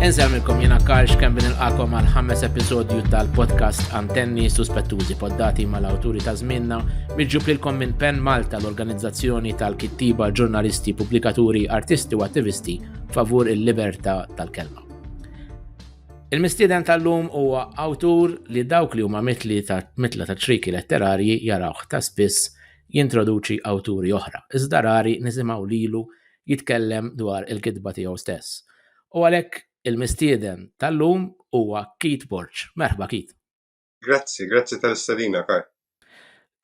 Inżemmilkom jena Karx kemm bin il-qakom għal ħames episodju tal-podcast Antenni Suspettużi poddati mal-awturi ta' żminna miġġub lilkom minn Pen Malta l-organizzazzjoni tal-kittiba, ġurnalisti, pubblikaturi, artisti u attivisti favur il-libertà tal-kelma. Il-mistieden tal-lum huwa awtur li dawk li huma mitli ta' mitla ta' triki letterarji jarawh ta' spiss jintroduċi awturi oħra, iżda rari nisimgħu lilu jitkellem dwar il-kitba tiegħu stess. U għalhekk il-mistieden tal-lum huwa Keith Borg. Merħba Keith. Grazzi, grazzi tal-istedina, Karl.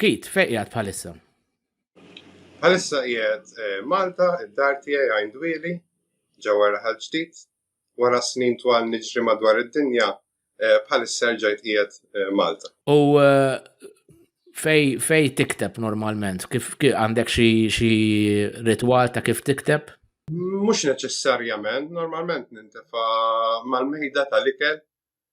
Keith, fejn qiegħed bħalissa? Bħalissa qiegħed eh, Malta, id-dar tiegħi għajn dwieli, ġewwa raħal ġdid, wara snin twal niġri madwar id-dinja, eh, bħalissa rġajt qiegħed eh, Malta. U eh, fej, fej tikteb normalment? Kif għandek xi ritwal ta' kif tikteb? Mhux neċessarjament, normalment nintefa mal-mejda tal-ikel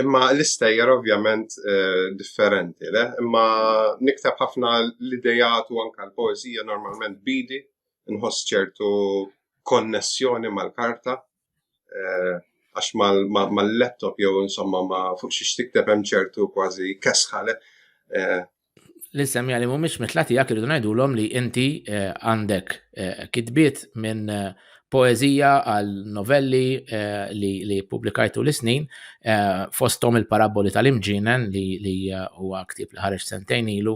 Imma l-istejjer ovvjament eh, differenti, le? Imma niktab ħafna l-idejat u anka l-poezija normalment bidi, nħoss ċertu konnessjoni mal-karta, eh, għax mal-laptop jew insomma ma fuq xiex tikteb hemm ċertu kważi kesħale. Eh, li semmija li mhumiex mitla tiegħek irridu ngħidulhom li inti eh, għandek eh, kitbiet minn eh, poezija għal novelli li, li publikajtu l-snin fostom il-paraboli tal-imġinen li, li huwa ktib li ħareġ sentejn ilu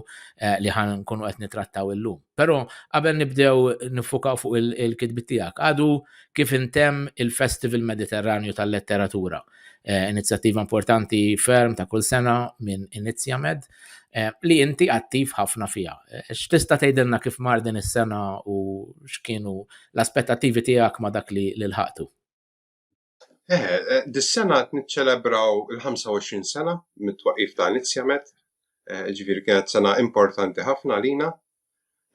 li ħan nkunu qed nitrattaw illum. Però qabel nibdew nifukaw fuq il-kitbiet tiegħek, għadu kif intemm il-Festival Mediterranju tal-Letteratura. Eh, inizjattiva importanti ferm ta' kull sena minn Inizjamed eh, li inti attiv ħafna fija. Eh, x'tista' tgħidilna kif mar din is-sena u x'kienu l-aspettativi tiegħek ma' dak li l-ħaqtu? Dis-sena qed niċċelebraw il-25 sena mit-twaqif ta' Inizjamed, ġifieri kienet sena importanti ħafna lina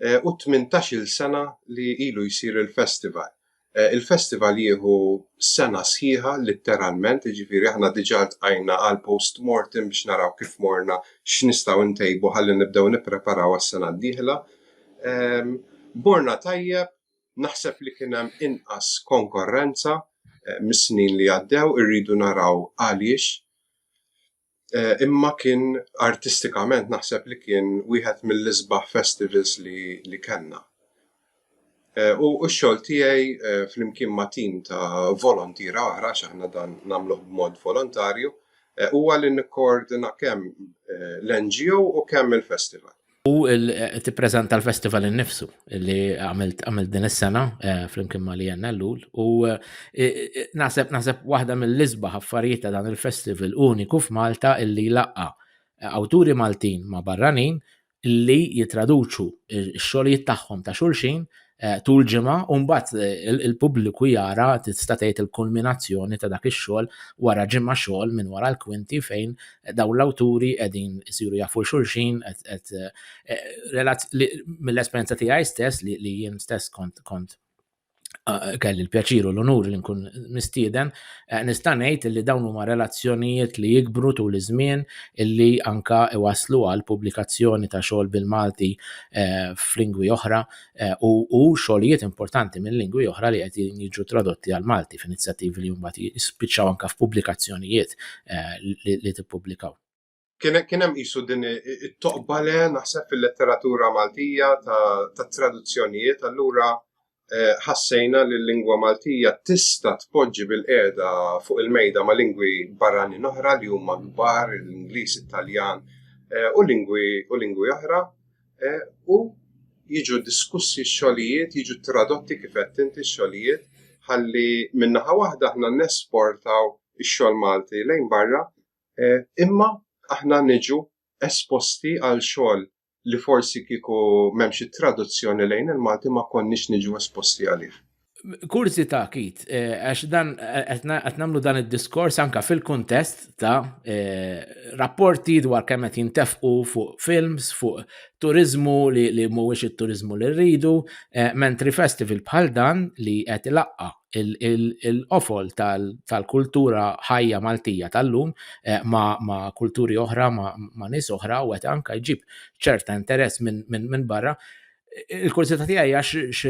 u t-tmintax-il sena li ilu jsir il-festival. Il-festival jieħu sena sħiħa litteralment, jiġifieri aħna diġà ltqajna għal postmortem biex naraw kif morna, x'nistgħu ntejbu ħalli nibdew nippreparaw għas-sena d-dieħla. Morna tajjeb, naħseb li kien hemm inqas konkorrenza mis-snin li għaddew, irridu naraw għaliex. Eh, imma kien artistikament naħseb li kien wieħed mill-isbaħ festivals li, li kellna. Eh, u x-xogħol tiegħi eh, flimkien ma' tim ta' volontira oħra x'aħna dan nagħmluh b'mod volontarju huwa li nikkoordina kemm l-NGO u kemm il-festival. U tippreżenta l-festival innifsu li għamilt għamilt din is-sena eh, flimkien ma' li jenna l-lul u eh, eh, naħseb naħseb waħda mill-isbaħ affarijiet ta' dan il-festival uniku f'Malta illi laqqa awturi Maltin ma' barranin li jitraduċu x-xogħlijiet tagħhom ta' xulxin Eh, tul ġimgħa u mbagħad eh, il-pubbliku jara tista' tgħid il-kulminazzjoni ta' dak ix-xogħol wara ġimgħa xogħol minn wara l-kwinti fejn eh, dawn l-awturi qegħdin isiru jafu xulxin qed mill-esperjenza tiegħi stess li jien stess kont kont kelli l-pjaċir u l-onur li nkun mistieden, nista' ngħid li dawn huma relazzjonijiet li jikbru tul iż-żmien illi anka iwaslu għal pubblikazzjoni ta' xogħol bil-Malti f'lingwi oħra eh, u xogħlijiet importanti minn lingwi oħra li qed jiġu tradotti għal Malti f'inizjattivi li mbagħad jispiċċaw anke f'pubblikazzjonijiet eh, li tippubblikaw. Kien hemm qisu din it-toqbale naħseb fil-letteratura Maltija ta' traduzzjonijiet allura eh, ħassejna li l-lingwa Maltija tista' tpoġġi bil-qiegħda fuq il-mejda ma' lingwi barranin oħra li huma kbar, l-Ingliż, Italjan u lingwi oħra eh, u jiġu diskussi xogħlijiet, jiġu tradotti kif qed inti xogħlijiet ħalli minnaħa waħda aħna nesportaw ix-xogħol Malti lejn barra, eh, imma aħna niġu esposti għal xogħol li forsi kieku m'hemmx traduzzjoni lejn il-Malti ma konniex niġu esposti għalih. Kurzita kit, eh, għax dan eh, qed nagħmlu dan id-diskors anka fil-kuntest ta' eh, rapporti dwar kemm qed jintefqu fuq films, fuq turizmu li mhuwiex it-turizmu li rridu, mentri festival bħal dan li qed ilaqqa il-qofol tal-kultura ħajja Maltija tal-lum ma' kulturi oħra, ma' nies oħra u qed anka jġib ċerta interess minn barra Il-kurzita tiegħi għax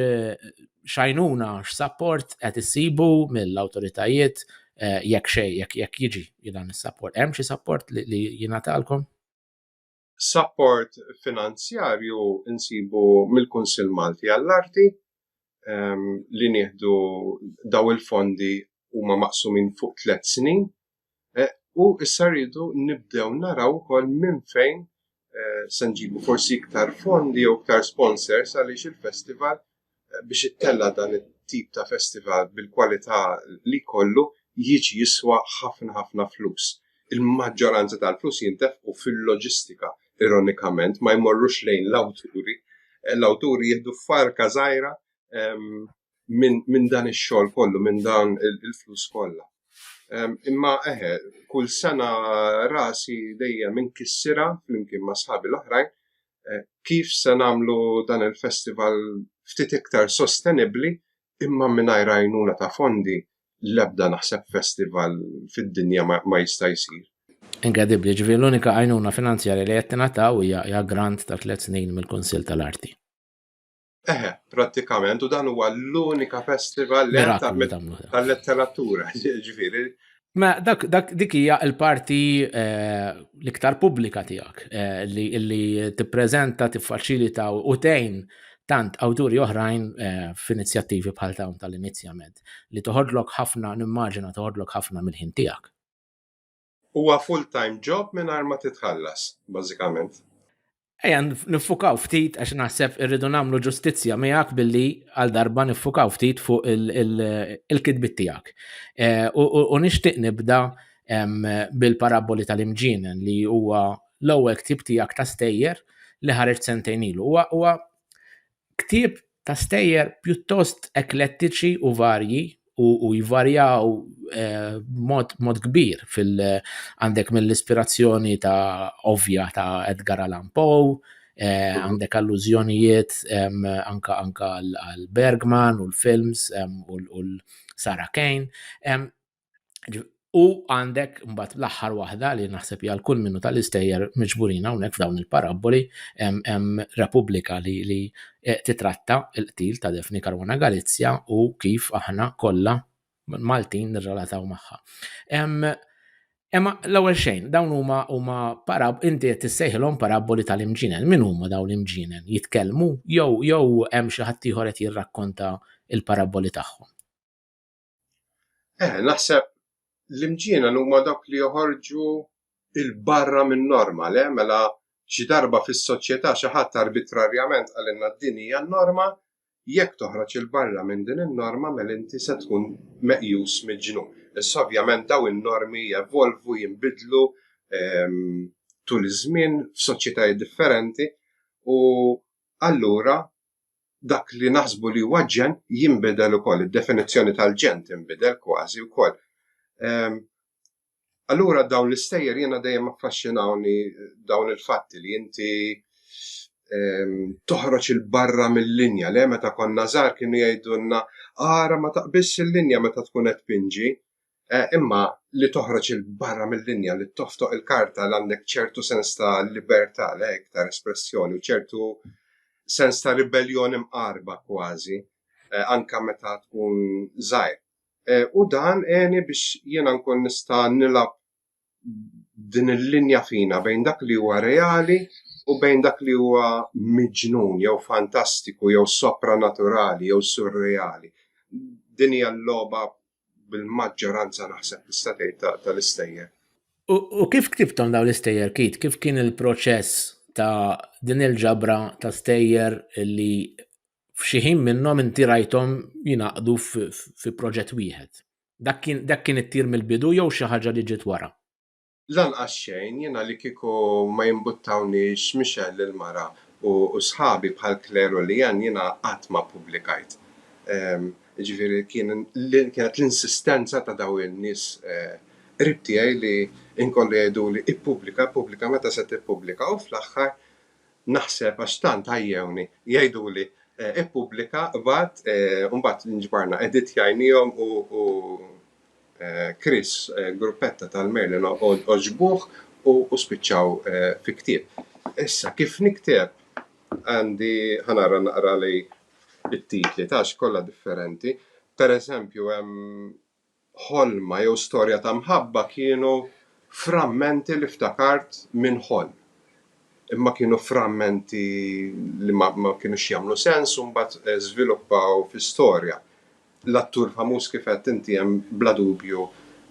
xajnuna x'sapport qed issibu mill-awtoritajiet eh, jekk xej jekk jiġi dan is-sapport. Hemm xi sapport li jingħatalkom? Sapport finanzjarju insibu mill-Kunsill Malti għall-Arti ehm, li nieħdu daw il-fondi huma maqsumin fuq tliet snin Eh, u issa rridu nibdew naraw ukoll minn fejn eh, se nġibu forsi iktar fondi jew iktar sponsors għaliex il-festival eh, biex ittella dan it-tip ta' festival bil-kwalità li kollu jiġi jiswa ħafna ħafna flus. Il-maġġoranza tal-flus jintefqu fil-loġistika, ironikament, ma jmorrux lejn l-awturi. Eh, l-awturi jieħdu farka żgħira ehm, minn min dan ix-xogħol kollu, minn dan il-flus kollha. Imma eħe, kull sena rasi dejjem inkissira flimkien ma' sħabi l-oħrajn eh, kif se nagħmlu dan il-festival ftit iktar sostenibbli imma mingħajr għajnuna ta' fondi l-ebda naħseb festival fid-dinja ma jista' jsir. Inkredibli, ġifieri l-unika għajnuna finanzjarja li qed tingħataw hija grant ta' tliet snin mill-Kunsill tal-Arti. Eħe, pratikament, u dan huwa l-unika festival tal-letteratura, ġifiri. Ma dak, dak dik hija l-parti eh, l-iktar pubblika tiegħek eh, li, li tippreżenta, tiffaċilita u tgħin tant awturi oħrajn eh, f'inizjattivi bħal dawn tal-inizjament li toħodlok ħafna, nimmaġina toħodlok ħafna mill-ħin tiegħek. Huwa full-time job mingħajr ma titħallas, bażikament. Ejja niffukaw ftit għax naħseb irridu nagħmlu ġustizzja miegħek billi għal darba niffukaw ftit fuq il-kitbit tiegħek. Eh, u nixtieq nibda bil-paraboli tal-imġienen li huwa l-ewwel ktib tiegħek ta' stejjer li ħareġ sentejn ilu. Huwa Ktieb ta' stejjer pjuttost eklettiċi u varji u jvarjaw b'mod kbir fil għandek mill-ispirazzjoni ta' ovvja ta' Edgar Allan Poe, għandek allużjonijiet anke għal Bergman u l-films u l Sarah Kane. U għandek mbagħad l-aħħar waħda li naħseb hija kull minnu tal-istejjer miġburin hawnhekk f'dawn il-parabboli hemm Repubblika li li eh, titratta l-qtil ta' Defni Karwana Galizja u kif aħna kollha Maltin nirrelataw magħha. Emma l-ewwel xejn, dawn huma huma parab inti qed tissejħilhom parabboli tal-imġinen. Min huma dawn l-imġinen? Jitkellmu jew jew hemm xi ħadd ieħor qed jirrakkonta l-parabboli tagħhom. Eh, naħseb l-imġiena huma dawk li joħorġu il-barra minn norma, le, mela xi darba fis-soċjetà xi ħadd arbitrarjament għalinna din hija norma, jekk toħroġ il-barra minn din in-norma mela inti se tkun meqjus miġnu. Issa ovvjament daw in-normi jevolvu, jinbidlu ehm, tul iż-żmien f'soċjetajiet differenti u allura dak li naħsbu li huwa ġen jinbidel ukoll, id-definizzjoni tal-ġen tinbidel kważi wkoll. Ehm, allura dawn l-istejjer jiena dejjem affaxxinawni dawn il-fatti li inti ehm, toħroġ il-barra mill-linja li meta konna żgħar kienu jgħidulna ara ma taqbis il-linja meta tkun qed pinġi. eh, imma li toħroġ il-barra mill-linja li toftoq il-karta li għandek ċertu sens ta' libertà lek ta' espressjoni u ċertu sens ta' ribellion imqarba kważi eh, anka meta tkun żgħir. Eh, u dan għeni biex jiena nkun nista' nilab din il-linja fina bejn dak li huwa reali u bejn dak li huwa miġnun jew fantastiku jew sopranaturali jew surreali. Din hija l-logħba bil-maġġoranza naħseb tista' tgħid tal-istejjer. U kif ktibtom dawn l-istejjer kit? Kif kien il-proċess ta' din il-ġabra ta' stejjer li f'xi ħin minnhom inti rajthom jingħaqdu fi proġett wieħed? Dak kien dak kien it-tir mill-bidu jew xi ħaġa li ġiet wara? Lanqas xejn, jiena li kieku ma jimbuttawniex Michelle il-mara u sħabi bħal Claire u Leanne jiena qatt ma ppubblikajt. Jiġifieri kienet l-insistenza ta' dawn in-nies qrib tiegħi li inkollu jgħiduli ippubblika, ippubblika, meta se tippubblika u fl-aħħar Naħseb għax tant għajjewni jgħiduli ippubblika bad u mbagħad nġbarna editjajniehom u Chris gruppetta tal-Merlin għoġbuh u spiċċaw fi ktieb. Issa kif nikteb għandi ħa nara naqrali t-titli għax kollha differenti. Pereżempju hemm ħolma jew storja ta' mħabba kienu frammenti li ftakart minn ħolm. Imma kienu frammenti li ma, ma kinux jagħmlu sens u mbagħad eh, żviluppaw fi storja. L-attur famuż kif għedt inti hemm bla dubju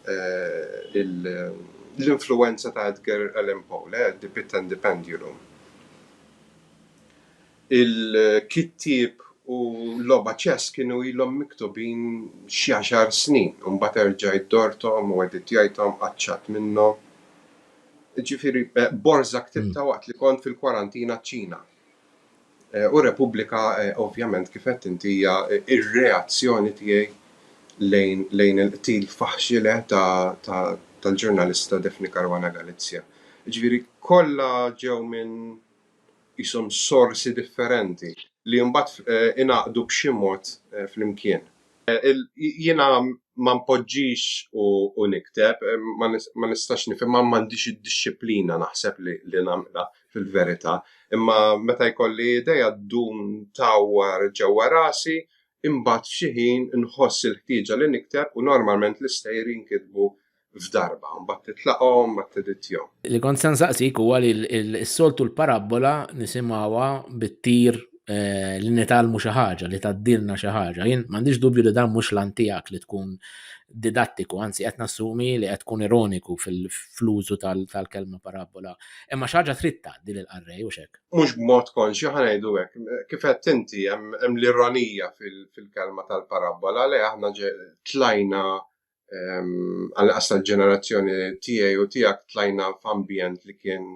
eh, l-influwenza ta' Edgar Allan Poe, le, The Pit and the Pendulum. Il-kittieb u l-logħba ċess kienu ilhom miktubin xi għaxar snin, imbagħad erġajt dorthom u editjajthom, qaċċat minnhom. Jiġifieri, borża ktibtha waqt li kont fil-kwarantina ċ-Ċina. U Repubblika, ovvjament, kif għedt inti, hija r-reazzjoni tiegħi lejn il-qtil faħxile tal-ġurnalista Daphne Caruana Galizia. Jiġifieri, kollha ġew minn qishom sorsi differenti li mbagħad ingħaqdu b'xi mod flimkien. Jiena ma npoġġix u nikteb, ma nistax nifhimha, m'għandix id-dixxiplina naħseb li nagħmilha fil-verità, imma meta jkolli idea ddum tgħawwar ġewwa rasi, imbagħad f'xi ħin inħoss il-ħtieġa li nikteb u normalment l-istejjer jinkitbu f'darba, mbagħad titlaqhom, mbagħad teditjhom. Li kont se nsaqsik huwa li s-soltu l-parabbola nisimgħuha bit-tir eh, li nitalmu xi ħaġa, li taddilna xi ħaġa. Jien m'għandix dubju li dan mhux lan tiegħek li tkun didattiku, anzi qed nassumi li qed tkun ironiku fil-flużu tal-kelma parabbola. Imma xi ħaġa trid tgħaddi lil qarrej u xek. Mhux b'mod konxju ħanejdu hekk, kif qed inti hemm l-ironija fil-kelma tal-parabbola li aħna tlajna għal qas tal-ġenerazzjoni tiegħi u tiegħek tlajna f'ambjent li kien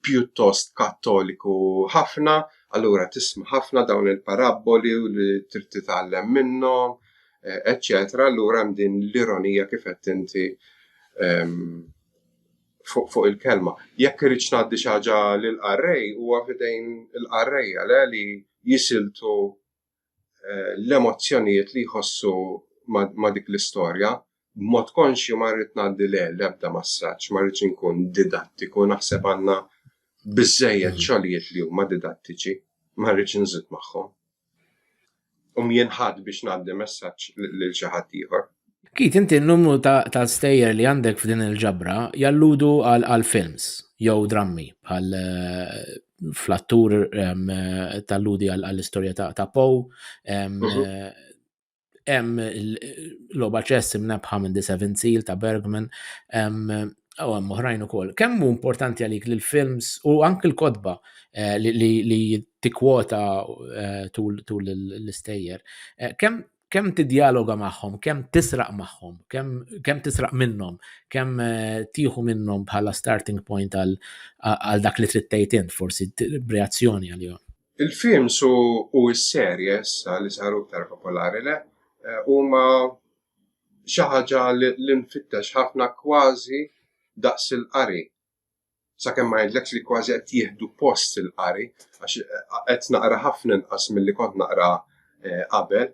pjuttost kattoliku ħafna, allura tisma' ħafna dawn il-parabboli u li trid titgħallem minnhom, eċċetera, eh, allura hemm din l-ironija kif qed inti fuq fuq il-kelma. Jekk irridx ngħaddi xi ħaġa lill-qarrej huwa fidejn il-qarrejja le li jisiltu eh, l-emozzjonijiet li jħossu ma' dik l-istorja, b'mod konxju ma rrid ngħaddi le l-ebda massaġġ, ma rridx inkun didattiku, naħseb għandna biżejjed mm. xogħlijiet li huma didattiċi, ma rridx nżid magħhom. U mjenħad biex ngħaddi messaġġ lil xi ħadd ieħor. Kit inti n-numru ta' stejjer li għandek f'din il-ġabra jalludu għal films jew drammi għal eh, fl-attur eh, talludi għall-istorja ta' Poe, mhm. eh, hemm l-loba ċess imnebħa minn The Seven Seal ta' Bergman, u għam uħrajn u kol. Kemm hu importanti għalik li l-films u anki l-kodba eh, li tikwota eh, tul l-istejjer, eh, kemm kemm tidjaloga magħhom, kemm tisraq magħhom, kemm tisraq minnhom, kemm eh, tieħu minnhom bħala starting point għal dak li trid tgħid int, forsi b'reazzjoni għalihom. Il-films u s-serje issa li saru aktar popolari le eh, huma xi ħaġa li nfittex ħafna kważi daqs il-qari sakemm ma jgħidlekx li kważi qed jieħdu post il-qari, għax eh, qed naqra ħafna inqas milli kont naqra eh, qabel.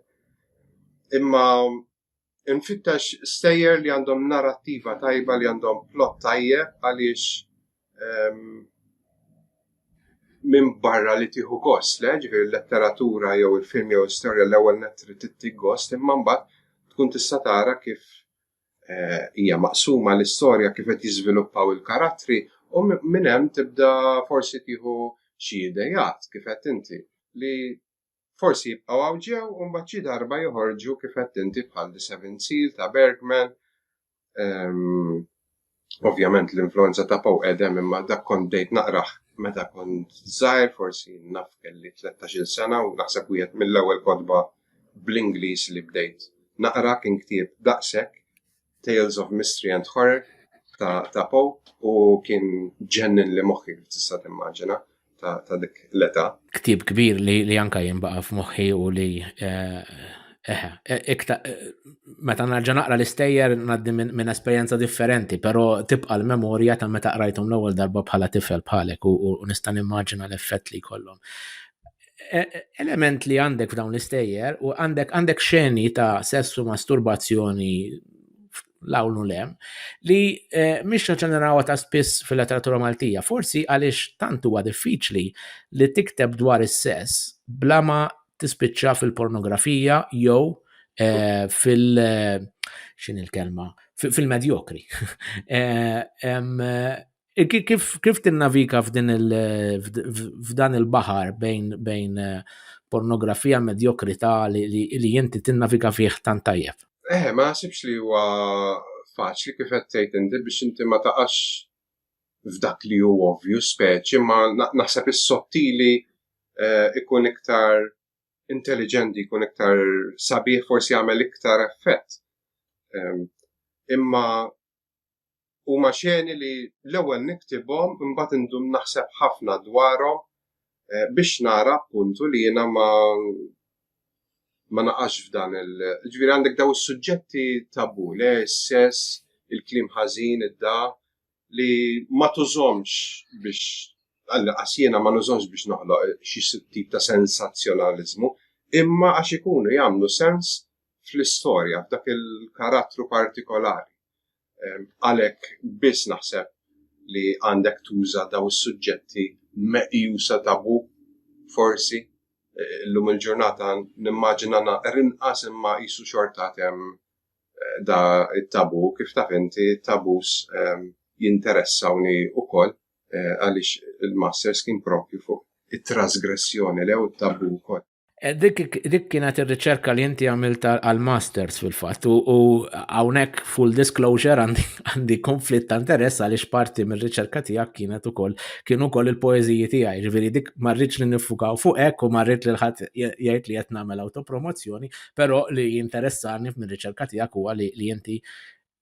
Imma nfittex stejjer li għandhom narrattiva tajba li għandhom plot tajjeb għaliex ehm, minn barra li tieħu gost, le, ġifieri l-letteratura jew il-film jew l-istorja l-ewwel netri tittik gost, imma mbagħad tkun tista' tara kif Eh, hija maqsuma l-istorja kif qed jiżviluppaw il-karattri u minn hemm tibda forsi tieħu xi idejat kif qed inti li forsi jibqgħu hawn ġew u mbagħad xi darba joħorġu kif qed inti bħal The Seven Seal ta' Bergman. Ehm, Ovvjament l-influenza ta' Poe qedem imma dak kont bdejt naqrah meta kont żgħir forsi naf kelli 13-il sena u naħseb wieħed mill-ewwel kotba bl-Ingliż li bdejt naqra kien ktieb daqshekk, Tales of Mystery and Horror ta' Poe u kien ġenninli moħħi kif tista' timmaġina. ta' dik l-età. Ktib kbir li, li anka jimbaqa f'moħħi u li eh, eh, eh, ikta, meta narġa' naqra l-istejjer ngħaddi minn esperjenza differenti, però tibqa' l-memorja ta' meta qrajthom l-ewwel darba bħala tifel bħalek u, u nista' nimmaġina l-effett li jkollhom. E, e, element li għandek f'dawn l-istejjer u għandek għandek xeni ta' sessu masturbazzjoni l-għawnu le, li eh, mhix ħaġa narawa ta' spiss fil-letteratura Maltija, forsi għaliex tant huwa diffiċli li tikteb dwar is-sess bla ma tispiċċa fil-pornografija jew eh, fil- eh, xin il-kelma, fil-medjokri. Kif, kif tinnavika f'din il, f'dan il-bahar bejn, bejn eh, pornografija medjokrità li, li, li inti tinnavika fih tant tajjeb? Eh, ma nasibx li huwa faċli kif qed tgħid inti biex inti ma taqax f'dak li hu ovvju speċi, ma naħseb is-sottili eh, ikun iktar intelligenti, ikun iktar sabiħ, forsi jagħmel iktar effett. Ehm, imma Huma xeni li l-ewwel niktibhom imbagħad indum naħseb ħafna dwarhom eh, biex nara appuntu li jiena ma ma naqax f'dan il ġviri għandek daw is-suġġetti tabu, le s-sess, il-klim ħażin, id-da, li ma tużomx biex għasjena ma nużomx biex noħloq xi tip ta' sensazzjonalizmu, imma għax ikunu jagħmlu sens fl-istorja, f'dak il-karattru partikolari. Għalhekk biss naħseb li għandek tuża daw is-suġġetti meqjusa tabu forsi eh, llum il-ġurnata nimmaġina naqar inqas imma jisu xorta tem eh, da it-tabu kif taf inti tabus jinteressawni ukoll eh, għaliex il-masters kien propju fuq it-trasgressjoni lew it-tabu wkoll. Eh, dik kienet ir-riċerka li inti għamilt għal-masters fil-fatt u hawnhekk full disclosure għandi konflitt ta' interess għaliex parti mir-riċerka tiegħek kienet ukoll kien ukoll il-poeżiji tiegħi, ġifieri dik ma rridx li nifukaw fuq hekk u ma rrid li ħadd jgħid li qed nagħmel autopromozzjoni, però li jinteressani mir-riċerka tiegħek huwa li inti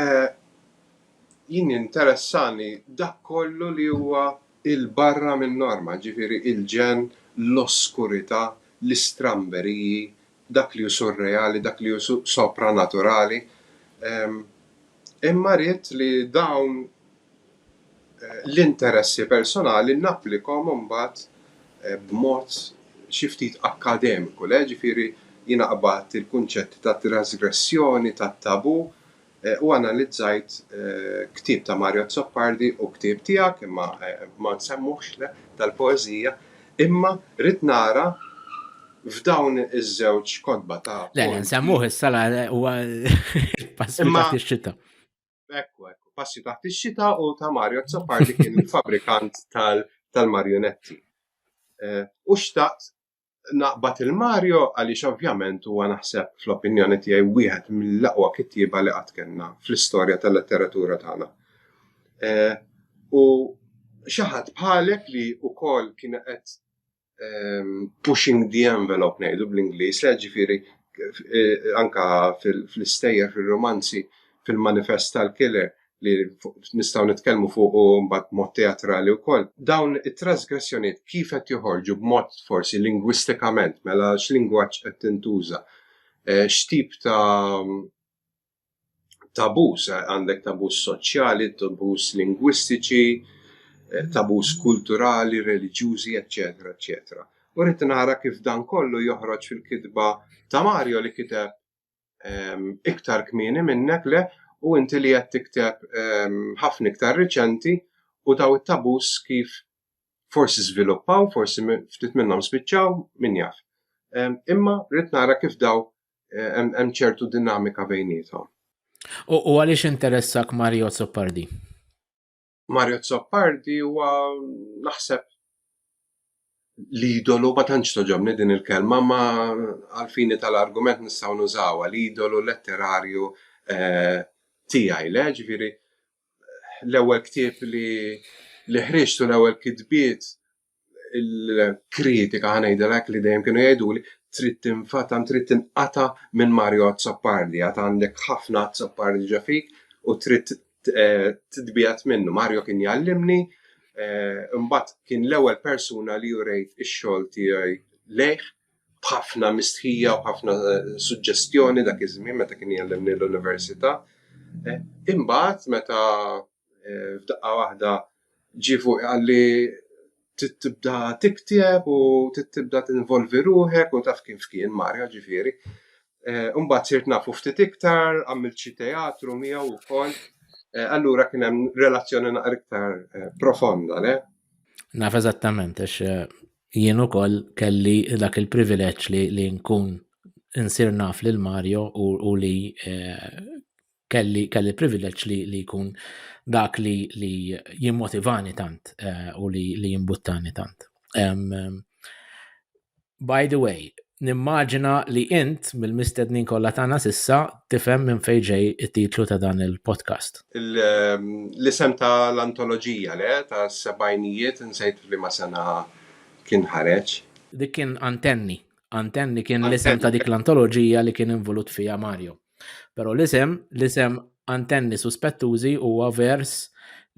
Eh, jien interessani dak kollu li huwa il-barra minn norma, ġifiri il-ġen, l-oskurità, l-istramberiji, dak li hu surreali, dak li hu sopranaturali. Ehm, imma rrid li dawn l-interessi personali napplikahom imbagħad b'mod xi ftit akkademiku le, jiġifieri jien aqbadt il-kunċetti ta' trasgressjoni, ta' tabù u analizzajt ktieb ta' Mario Azzopardi u ktieb tiegħek, imma ma nsemmuhx le, tal-poeżija, imma ridt nara f'dawn iż-żewġ kotba ta' poeżija. Le, le, nsemmuh issa huwa il-pass li taħt ix-xita. Ekku, ekku, passi taħt ix-xita u ta' Mario Zappardi kien il-fabrikant tal-marionetti. Eh, u xtaqt naqbad il-Mario għaliex ovvjament huwa naħseb fl-opinjoni tiegħi wieħed mill-aqwa kittieba li qatt kellna fl-istorja tal-letteratura tagħna. Eh, u xaħat bħalek li wkoll kien qed ehm, pushing the envelope ngħidu bl-Ingliż, li ġifieri eh, anka fl-istejjer fil-romanzi fil-manifest tal-killer li nistgħu nitkellmu fuq u mbagħad mod teatrali wkoll. Dawn it-trasgressjonijiet kif qed joħorġu b'mod forsi lingwistikament mela x'lingwaġġ qed tintuża, eh, x'tip ta' tabus, għandek tabus soċjali, tabus lingwistiċi, eh, tabus kulturali, reliġjużi, eccetera, eccetera. U rrit nara kif dan kollu joħroġ fil-kitba ta' Mario li kiteb ehm, iktar kmini minnek le u inti li qed tikteb ehm, ħafna iktar riċenti u daw it-tabus kif forsi żviluppaw, forsi ftit minnhom spiċċaw, min jaf. Ehm, imma rrit nara kif daw hemm ċertu dinamika bejniethom. U għaliex interessak Mario Zoppardi? Mario Zoppardi huwa naħseb l-idolu ma tantx toġobni din il-kelma ma għalfini tal-argument nistgħu nużawha l-idolu letterarju eh, tiegħi le ġifieri l-ewwel ktieb li li ħriġtu l-ewwel kitbiet il-kritika ħanajdilek li dejjem kienu jgħiduli trid tinfata trid tinqata minn Mario Azzopardi għad għandek ħafna Azzopardi ġa fik u trid eh, titbijat minnu. Mario kien jallimni eh, imbagħad kien l-ewwel persuna li jurejt ix-xogħol tiegħi lejh b'ħafna mistħija u ħafna eh, suġġestjoni dak iż-żmien meta kien jallimni l-università. Imbagħad meta f'daqqa waħda ġie fuqi qal li trid tibda tikteb u trid tibda tinvolvi ruħek u taf kif kien Mario ġifieri. Eh, imbagħad sirt nafu ftit iktar, għamilt xi teatru miegħu wkoll. Eh, allura kien hemm relazzjoni naqra iktar eh, profonda, le? Naf eżattament, għax jien ukoll kelli dak il-privileġġ li, li nkun insir naf lil Mario u, u li eh, kelli kelli privileġġ li li jkun dak li li jimmotivani tant eh, u li li jimbuttani tant. Um, by the way, nimmaġina li int mill-mistednin kollha tagħna sissa tifhem minn fejn ġej it-titlu ta' dan il-podcast. Ehm, l-isem ta' l-antoloġija le ta' sebajnijiet insejt li ma sena kien ħareġ. Dik kien antenni. Antenni kien l-isem ta' dik l-antoloġija li kien involut fija Mario. Però l-isem, l-isem antenni suspettużi huwa vers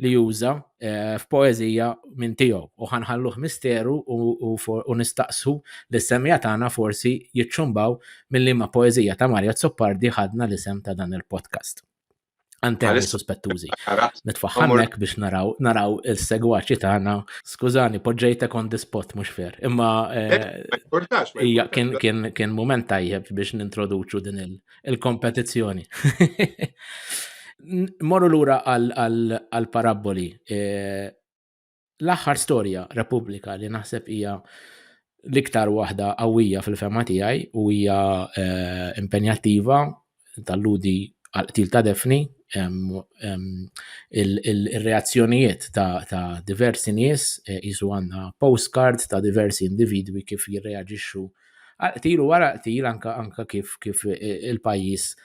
li juża eh, f'poeżija minn tiegħu u ħanħalluh misteru u nistaqsu li semja tagħna forsi jiċċumbaw mill-liema poeżija ta' Marja Zoppardi ħadna l-isem ta' dan il-podcast. Anteħ suspettużi. Nitfaħħamek biex naraw naraw il-segwaċi tagħna. Skużani, poġġejtek on the spot mhux fer. Imma eh, eh, hija kien kien kien mument tajjeb biex nintroduċu din il-kompetizzjoni. Morru lura għal paraboli eh, L-aħħar storja Repubblika li naħseb hija l-iktar waħda qawwija fil-fema tiegħi u hija eh, impenjattiva tal-ludi għal-qtil ta' Defni il-reazzjonijiet ta' diversi nies eh, jisu għanna postcard ta' diversi individwi kif jirreagġixxu għal-qtil u wara qtil anka kif eh, il-pajis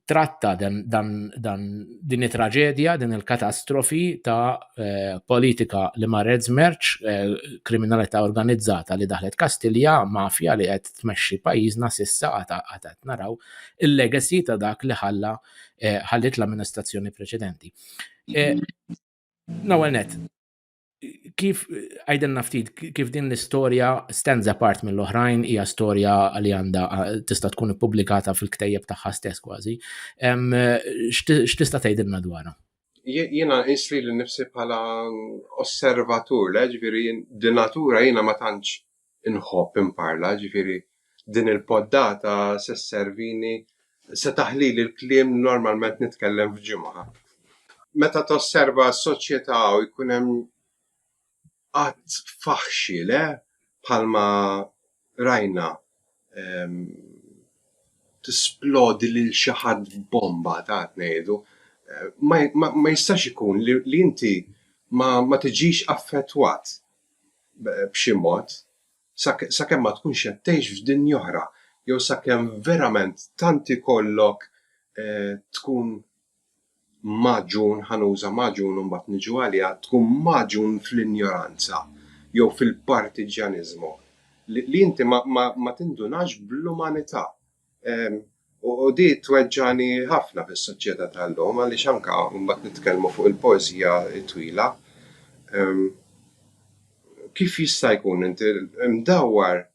tratta dan, dan, dan din it-traġedja, din il-katastrofi ta' eh, politika li marret żmerċ, eh, kriminalità organizzata li daħlet Kastilja, mafja li qed tmexxi pajjiżna sissa għad qed naraw il-legacy ta' dak li ħalla eh, ħallit l-amministrazzjoni preċedenti. Eh, Nawel net, kif għajden naftit, kif din l-istoria stands apart mill-oħrajn, hija storja li għanda tista tkun publikata fil-ktejjeb tagħha stess kważi. X'tista' tgħidilna dwarha? Jiena isri li nifsi bħala osservatur, ġifieri din natura jiena ma tantx inħobb inparla, ġifieri din il-poddata se sservini se taħlili l-kliem li normalment nitkellem f'ġimgħa. Meta tosserva s-soċjetà u jkun hemm qatt faħxi le bħalma rajna ehm, tisplodi lil xi ħadd bomba ta' ngħidu, eh, ma jistax ikun li inti ma tiġix affettwat b'xi mod, sakemm ma tkunx qed tgħix f'dinja oħra, jew sakemm verament tant ikollok tkun magħġun, ħa nuża magħġun u mbagħad niġu għaliha, tkun magħġun fl-injoranza jew fil-partiġġjaniżmu, li inti ma tindunax bl-umanità U di tweġġani ħafna fis-soċjetà tal-lum għaliex anka mbagħad nitkellmu fuq il-poeżija twila. Kif jista' jkun inti mdawwar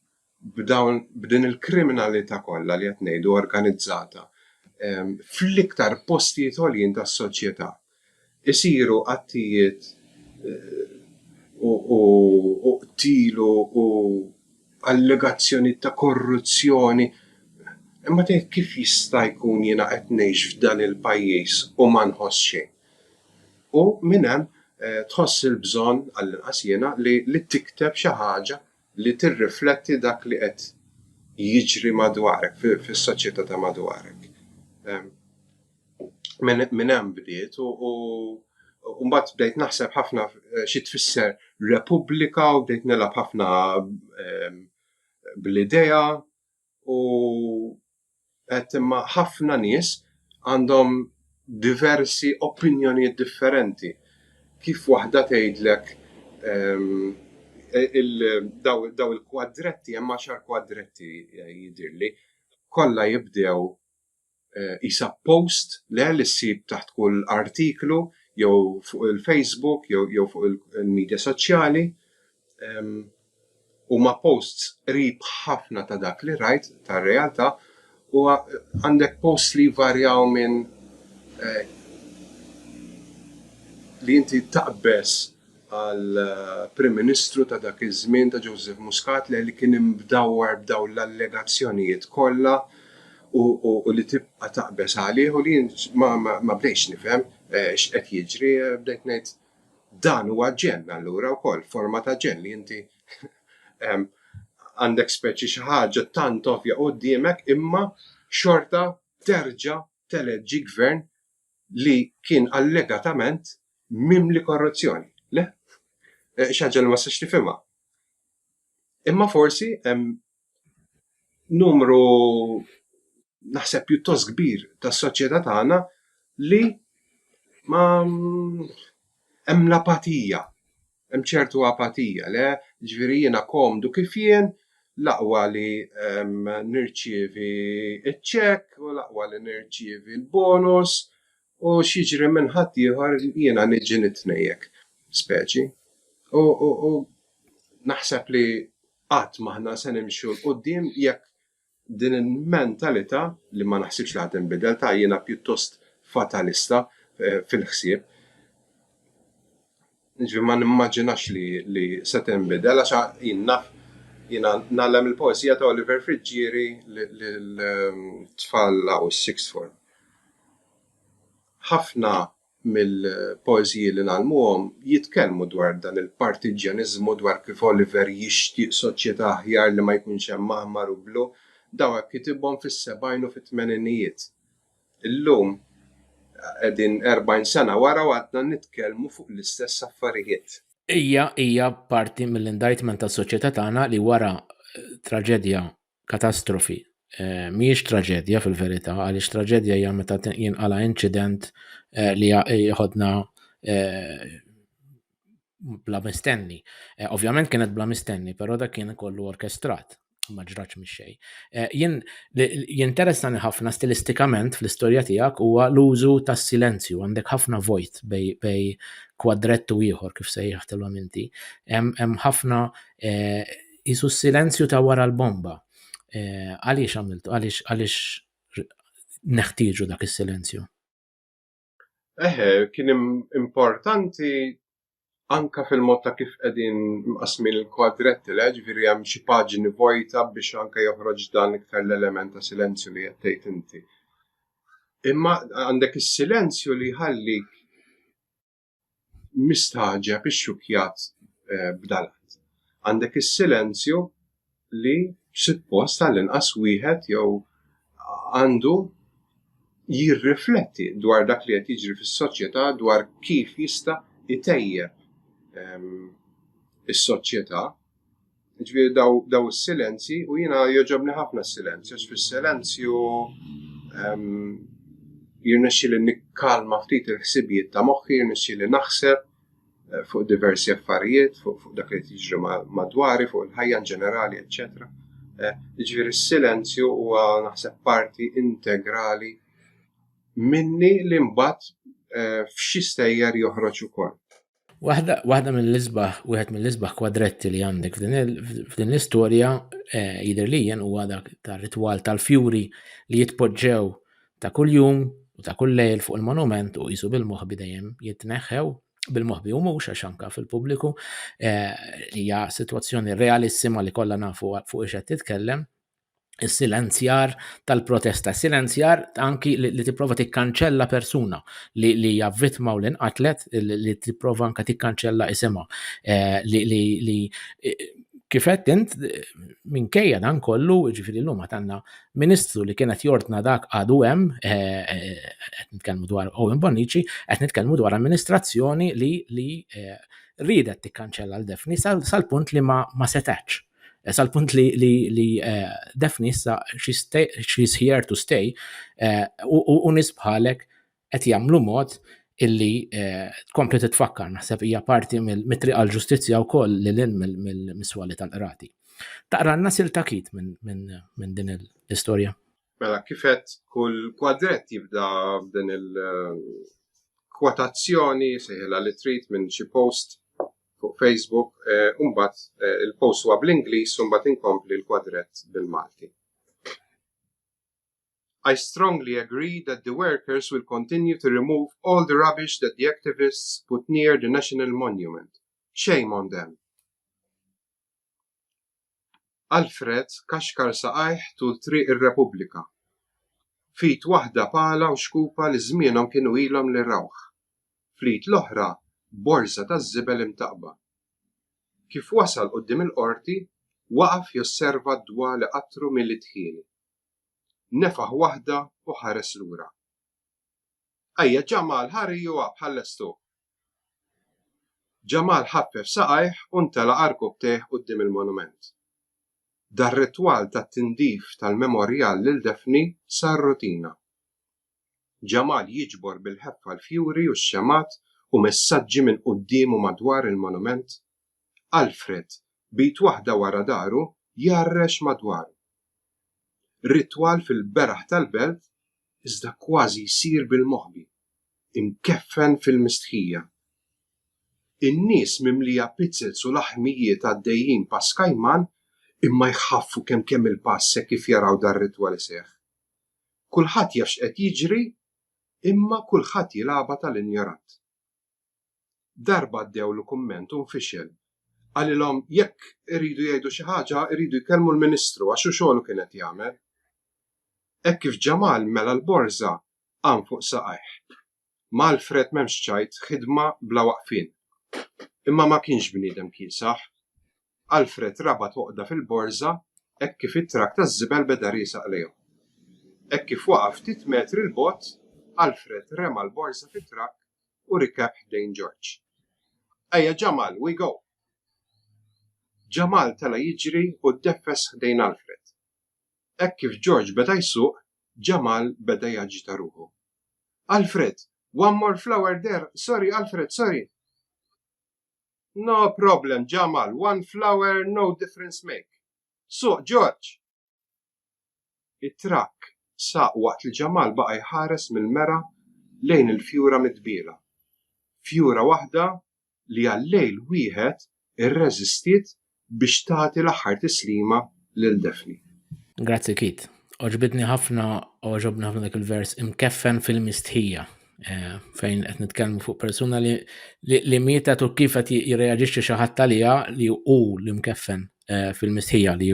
b'dawn b'din il-kriminalità kollha li qed ngħidu organizzata fl-iktar postijiet għoljin tas-soċjetà? Isiru qattijiet u qtil u allegazzjonijiet ta' korruzzjoni. Imma tgħid kif jista' jkun jiena qed ngħix f'dan il-pajjiż u ma nħoss xejn? U minn hemm tħoss il-bżonn, għallinqas jiena, li tikteb xi ħaġa li tirrifletti dak li qed jiġri madwarek, fis-soċjetà ta' madwarek. Minn hemm bdiet u u mbagħad bdejt naħseb ħafna xi tfisser repubblika u bdejt nilgħab ħafna bl-idea u qed imma ħafna nies għandhom diversi opinjonijiet differenti. Kif waħda tgħidlek dawn il-kwadretti, hemm għaxar kwadretti jidhirli, kollha jibdew qisha post le li ssib taħt kull artiklu jew fuq il-Facebook jew jew fuq il-media soċjali. Ehm, huma posts qrib ħafna ta' dak li rajt tar-realtà u għandek posts li varjaw minn eh, li inti taqbeż għall-Prim Ministru ta' dak iż-żmien ta' Joseph Muscat le li kien imdawwar b'dawn l-allegazzjonijiet kollha u li tibqa' taqbeż għalih u li jien ma bdejtx nifhem x'qed jiġri bdejt ngħid dan huwa ġenn allura wkoll forma ta' ġenn li inti għandek speċi xi ħaġa tant ovvja quddiemek imma xorta terġa' teleġġi gvern li kien allegatament mimli korruzzjoni. Le? Eh, Xaġġa li ma sax tifhimha. Imma forsi hemm numru naħseb pjuttost kbir tas-soċjetà tagħna li ma hemm l-apatija Hemm ċertu apatija, le? Jiġifieri jiena komdu kif jien, l-aqwa li nirċievi ċ-ċekk u l-aqwa li nirċievi l-bonus u x'jiġri minn ħaddieħor jiena niġi nitnejjek. Speċi. U, u, u naħseb li qatt m'aħna se nimxu l-qudiem jekk Din il-mentalità, li ma naħsibx li ħa tinbidel, ta' jiena pjuttost fatalista fil-ħsieb, jiġifieri ma nimmaġinax li se tinbidel għax jien naf jiena ngħallem il-poeżija ta' Oliver Friggieri lil tfal hawn is-sixth form. Ħafna mill-poeżiji li ngħallmuhom jitkellmu dwar dan il-partiġġjaniżmu, dwar kif Oliver jixtieq soċjetà aħjar li ma jkunx hemm aħmar u blu. Dawn hekk kitibhom fis-sebgħin u fit-tmeninijiet. Illum qegħdin erbgħin sena wara u għadna nitkellmu fuq l-istess affarijiet. Hija hija parti mill-indictment tas-soċjetà tagħna li wara traġedja katastrofi. Mhijiex traġedja fil-verità, għaliex traġedja hija meta jinqala' inċident li jħodna bla mistenni. Ovvjament kienet bla mistenni, però dak kien kollu orkestrat, ma ġratx mix-xejn. Jien jinteressani ħafna stilistikament fl-istorja tiegħek huwa l-użu tas-silenzju, għandek ħafna vojt bej kwadrett u ieħor kif sejjaħtilhom inti. Hemm ħafna jisu s-silenzju ta' wara l-bomba. Eh, għaliex għamiltu, għaliex għaliex neħtieġu dak is-silenzju? Eħe, kien importanti anka fil-mod ta' kif qegħdin mqasmin il-kwadretti li ġifieri hemm xi paġni vojta biex anka joħroġ dan iktar l-element ta' silenzju li qed tgħid inti. Imma għandek is-silenzju li jħallik mistagħġeb ixxukkjat b'dal-att. Għandek is-silenzju li suppost għall-inqas wieħed jew għandu jirrifletti dwar dak li qed jiġri fis-soċjetà dwar kif jista' itejjeb is-soċjetà. Ġviri daw, daw il-silenzji, u jina joġobni ħafna silenzju, fil-silenzju jirnexxi li nikkalma ftit il-ħsibijiet ta' moħħi, jirnexxi li naħseb eh, fuq diversi affarijiet, fuq, fuq dak li tiġri madwari, fuq il-ħajja in ġenerali, eccetera. Eh, ġviri s-silenzju huwa naħseb parti integrali minni li mbagħad eh, f'xi stejjer joħroġ ukoll. Waħda, waħda mill-isbaħ, wieħed mill-isbaħ kwadretti li għandek f'din l-istorja eh, jidher li jien huwa dak tar-ritwal tal-fjuri li jitpoġġew ta' kuljum u ta' kull lejl fuq il-monument u jisu bil-moħbi dejjem jitneħħew bil-moħbi u mhux għax anka fil-pubbliku eh, li hija sitwazzjoni realissima li kollha nafu fuq ix qed titkellem. is-silenzjar tal-protesta, silenzjar anki li, li tipprova tikkanċella persuna li li hija vittma u li nqatlet li tipprova anka tikkanċella isimha eh, li li li eh, kifet int minkejja dan kollu, ġifiri l-lum għatanna ministru li kienet jordna dak għadu hemm, eh, eh, qed nitkellmu dwar Owen Bonnici, qed nitkellmu dwar amministrazzjoni li li ridet tikkanċella l-defni sal-punt li ma setax. Sa l-punt li, li, li uh, Daphne issa she's, stay, she's here to stay eh, u uh, nisbħalek qed jagħmlu mod illi eh, tkompli uh, titfakkar naħseb hija parti mit-triq għal ġustizzja wkoll li lin mill-miswali tal-qrati. Taqra n nasil takit minn min, min din l-istorja. Mela kifet kull kwadret jibda f'din il- kwotazzjoni seħila li trid minn xi post fuq Facebook, u mbagħad il-post huwa bl-Ingliż u mbagħad inkompli l-kwadrett bil-Malti. I strongly agree that the workers will continue to remove all the rubbish that the activists put near the National Monument. Shame on them. Alfred kaxkar saqajh tul Triq ir-Repubblika. F'id waħda pala u xkupa li żmienhom kienu ilhom li rawh. Fl-id l-oħra borża taż-żibel imtaqqba. Kif wasal quddiem il-Qorti, waqaf josserva d-dwa li qattru mili dħieni. Nefaħ waħda u ħares lura. Ejja, Ġamal, ħa riequ up, ħa nlestuh. Ġamal ħaffef saqajh u ntelaq għar kubtejh quddiem il-monument. Dar-ritwal tat-tindif tal-memorjal lil Daphne sar rutina. Ġamal jiġbor bil-ħeffa l-fjuri u x-xemgħat u messaġġi minn quddiem u madwar il-monument Alfred, b'id waħda wara dahru, jgħarrex madwaru. Ritwal fil-beraħ tal-belt, iżda kważi jsir bil-moħbi, imkeffen fil-mistħija. In-nies mimlija pizzels u laħmijiet għaddejjin pass kajman, imma jħaffu kemm kemm il-pass hekk kif jaraw dar-ritwal iseħħ. Kulħadd jaf x'qed jiġri, imma kulħadd jilgħabha tal-injorant. Darba għaddewlu kumment u nfixel. Qalilhom jekk iridu jgħidu xi ħaġa jridu jkellmu l-Ministru għax hu xogħlu kien qed jagħmel. Hekk kif Ġamal mela l-borża qam fuq saqajh. Ma' Alfred m'hemmx ċajt, ħidma bla waqfien. Imma ma kienx bniedem kiesaħ. Alfred rabat għoqda fil-borża hekk kif it-trakk taż-żibel beda riesaq lejhom. Hekk kif waqaf ftit metri 'l bogħod, Alfred rema l-borża fit-trakk u rikeb ħdejn George. Ejja Jamal, we go! Jamal tela' jiġri u ddeffes ħdejn Alfred. Hekk kif George beda jsuq, Jamal beda jaġita ruħu. Alfred! One more flower there! Sorry Alfred, sorry! No problem, Ġamal, one flower, no difference make. Suq, Ġorġ! It-trakk saq waqt li Ġamal baqa' jħares mill-mera lejn il-fjura mitbiela. Fjura waħda li għal lejl wieħed irreżistiet biex tagħti l-aħħar tislima lil Daphne. Grazzi Kit. Oġbitni ħafna, oġobni ħafna dak il-vers imkeffen fil-mistħija eh, fejn qed nitkellmu fuq persuna li li mietet u kif qed jirreaġixxi xi ħadd għaliha li hu li mkeffen eh, fil-mistħija li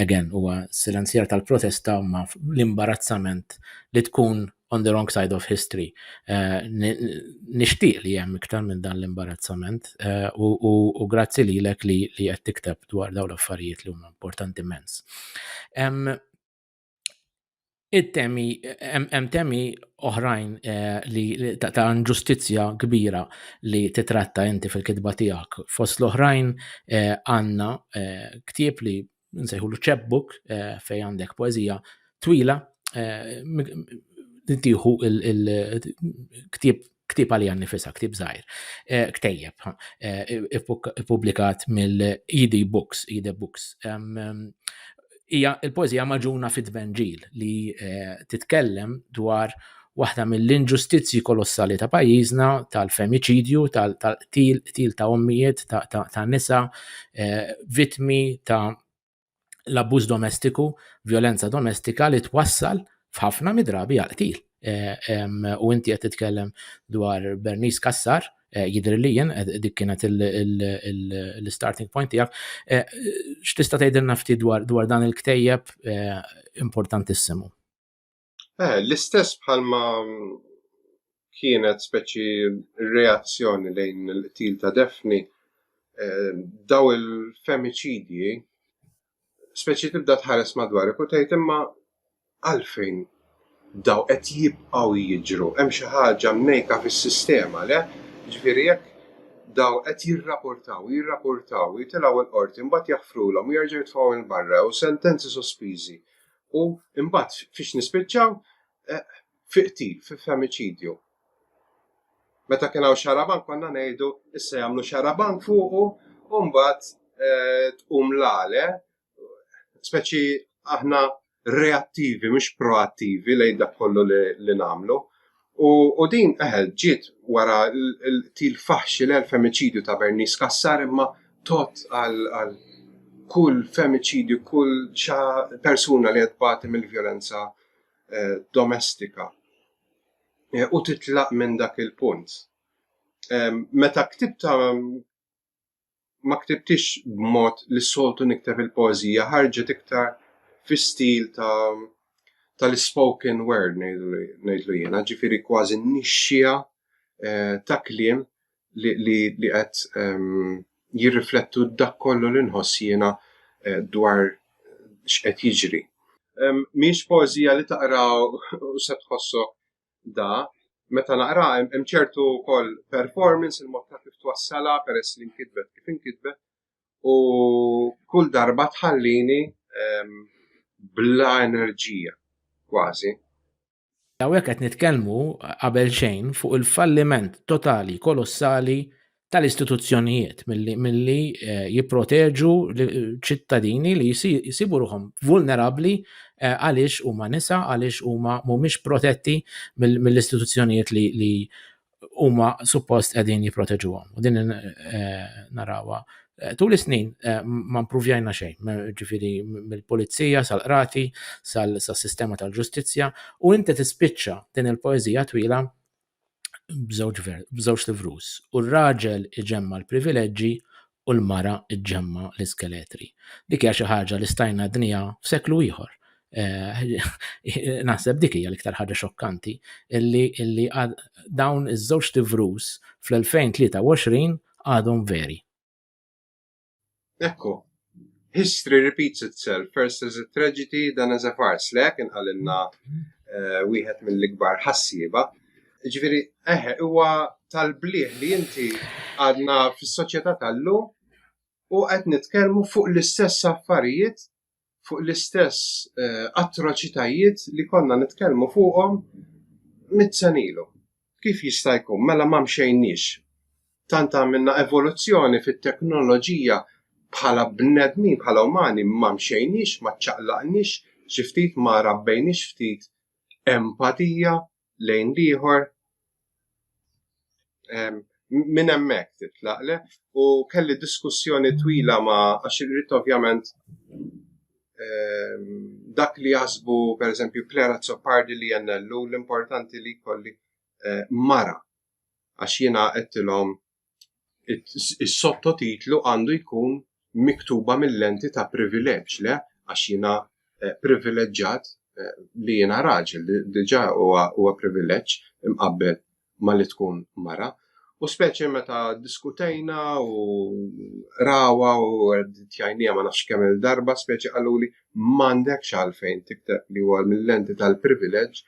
again huwa silenzjar tal-protesta ma l-imbarazzament li tkun on the wrong side of history. Eh, nixtieq li hemm iktar minn dan l-imbarazzament eh, u grazzi li lek li qed tikteb dwar dawn l-affarijiet li huma importanti immens. It-temi, hemm temi oħrajn eh, li ta' ġustizzja kbira li titratta inti fil-kitba tiegħek. Fost l-oħrajn għandna ktieb li nsejħulu chapbook eh, fej għandek poezija twila eh, tiħu il-ktib ktib għalija nifisa, ktib zaħir, eh, ktejjeb, publikat mill-ED Books, ED Books. Ija il-poezija maġuna fit-tvenġil li titkellem dwar waħda mill-inġustizzji kolossali ta' pajjiżna tal-femiċidju, tal-qtil, qtil ta' ommijiet, ta' nisa, eh, vitmi ta' l-abbuż domestiku, violenza domestika li twassal f'ħafna midrabi għal-qtil. Eh, u inti qed titkellem dwar Bernice Kassar, eh, jidri li jien dik kienet l-starting point tiegħek. X'tista' tgħidilna ftit dwar dan il-ktejjeb importantissimu? Eh, l-istess bħalma mm, kienet speċi reazzjoni lejn il-qtil ta' Defni, eh, daw il-femicidji, speċi tibda tħares madwar u tgħid imma għalfejn daw qed jibqgħu jiġru, hemm xi ħaġa mnejka fis-sistema le, ġifieri jekk daw qed jirrapportaw, jirrapportaw, jitilgħu l-qorti, mbagħad jaħfrulhom, jerġgħu jitfgħu il-barra u sentenzi sospiżi U imbagħad fiex nispiċċaw eh, fi qtil, fi femiċidju. Meta kien hawn xarabank konna ngħidu issa jagħmlu xarabank fuqu u mbagħad eh, tqum l-għale, speċi aħna reattivi, mhux proattivi lejn dak kollu li nagħmlu. U din eħel ġiet wara l-til faħxi l femiċidju ta' Bernice Cassar imma tot għal kull femiċidju, kull xa persuna li għedbati mill-violenza eh, domestika. Eh, u titlaq minn dak il-punt. Eh, meta ktibta ma ktibtix b'mod li soltu nikteb il-poezija, ħarġet iktar fi stil ta' tal-spoken word ngħidlu jiena, ġifieri kważi nixxija eh, ta' kliem li qed ehm, jirriflettu dak kollu li nħoss jiena eh, dwar x'qed jiġri. Ehm, mhix poezija li taqra u se tħossok da, meta naqra hemm ċertu wkoll performance il-mod ta' kif twassala peress li nkitbet kif inkitbet u kull darba tħallini ehm, bla enerġija kważi. Hawnhekk qed nitkellmu qabel xejn fuq il-falliment totali kolossali tal-istituzzjonijiet milli, milli eh, jipproteġu ċittadini li jisibu ruħom vulnerabli eh, għaliex huma nisa, għaliex huma mhumiex protetti mill-istituzzjonijiet li, li huma suppost qegħdin jipproteġuhom. U din eh, narawa eh, tul is-snin eh, ma mpruvjajna xejn, ġifieri mill-pulizija sal-qrati, sal-sistema tal-ġustizzja, u inti tispiċċa din il-poeżija twila b'żewġ b'żewġ livrus u r-raġel iġemma l-privileġġi u l-mara iġemma l-iskeletri. Dik hija xi ħaġa li stajna dnija f'seklu ieħor. Eh, naħseb dik hija l-iktar ħaġa xokkanti illi illi dawn iż-żewġ livrus fl-2023 għadhom veri. Ekku, history repeats itself, first as a tragedy, then as a farce, le, kien għalilna eh, wieħed mill-ikbar ħassiba. Ġviri, eħe, huwa tal-bliħ li inti għadna fis-soċjetà tal-lum u qed nitkellmu fuq l-istess affarijiet fuq l-istess eh, atroċitajiet li konna nitkellmu fuqhom mit-senilu. Kif jista' jkun mela ma mxejniex? Tant għamilna evoluzzjoni fit-teknoloġija bħala bnedmin, bħala umani, ma mxejniex, ma ċaqlaqniex, xi ftit ma rabbejniex ftit empatija lejn l-ieħor minn hemmhekk titlaqle u kelli diskussjoni twila ma għax irrid ovvjament ehm, dak li jasbu per eżempju Clara Zoppardi li jennellu l-importanti li kolli eh, mara għax jiena għettilhom is-sottotitlu għandu jkun miktuba mill-lenti ta' privileġġ, le? Għax jiena eh, privileġġat eh, li jiena raġel, diġà huwa privileġġ imqabbel ma li tkun mara. U speċi meta diskutejna u rawa u tjajnija ma nafx kemm il-darba speċi għaluli m'għandekx għalfejn tikteb li huwa mill-lenti tal-privileġġ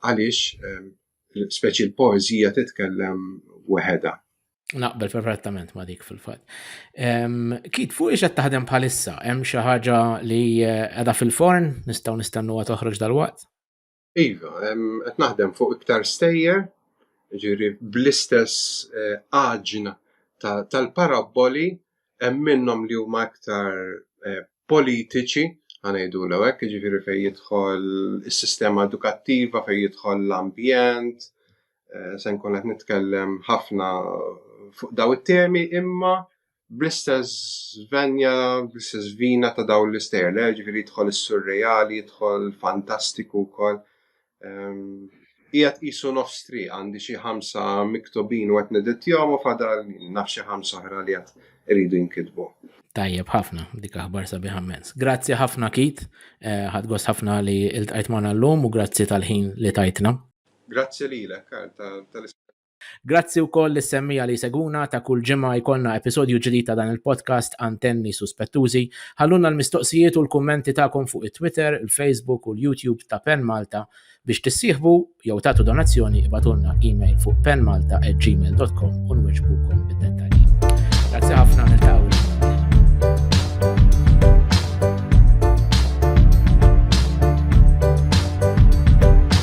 għaliex ehm, speċi l-poezija titkellem weħeda. Naqbel perfettament ma dik fil-fat. Kit, fuq iġa taħdem bħalissa, hemm xi ħaġa li qiegħda eh, fil-forn, nistgħu nistennuha toħroġ dal-waqt? Iva, qed naħdem fuq iktar stejjer, ġiri bl-istess eh, għaġna tal-paraboli hemm minnhom li huma aktar eh, politiċi, għanajdu l hekk, ġifiri fej jidħol is-sistema edukattiva, fej jidħol l-ambjent, eh, se nkun qed nitkellem ħafna fuq daw it-temi imma bl-istess venja, bl-istess vina ta' daw l-istejjer, ġifiri jidħol is-surreali, jidħol fantastiku wkoll. Qiegħed qisu nofs tri għandi xi ħamsa miktubin u qed nedittjahom u fadal naf xi ħamsa oħra li qed iridu jinkitbu. Tajjeb ħafna, dik aħbar sabiħ ammens. Grazzi ħafna Kit, eh, ħadgost ħafna li il-tajt maħna l-lum u grazzi tal-ħin li tajtna. Grazzi li l-ek tal Grazzi wkoll lis-semmija li jsegwuna ta' kull ġimgħa jkollna episodju ġdid ta' dan il-podcast Antenni Suspettużi. Ħallulna l-mistoqsijiet u l-kummenti tagħkom fuq it-Twitter, il-Facebook u l-YouTube ta' Pen Malta. Biex tissieħbu jew tagħtu donazzjoni ibatulna email fuq penmalta@gmail.com u nwiġbukom bid-dettalji. Grazzi ħafna niltaqgħu.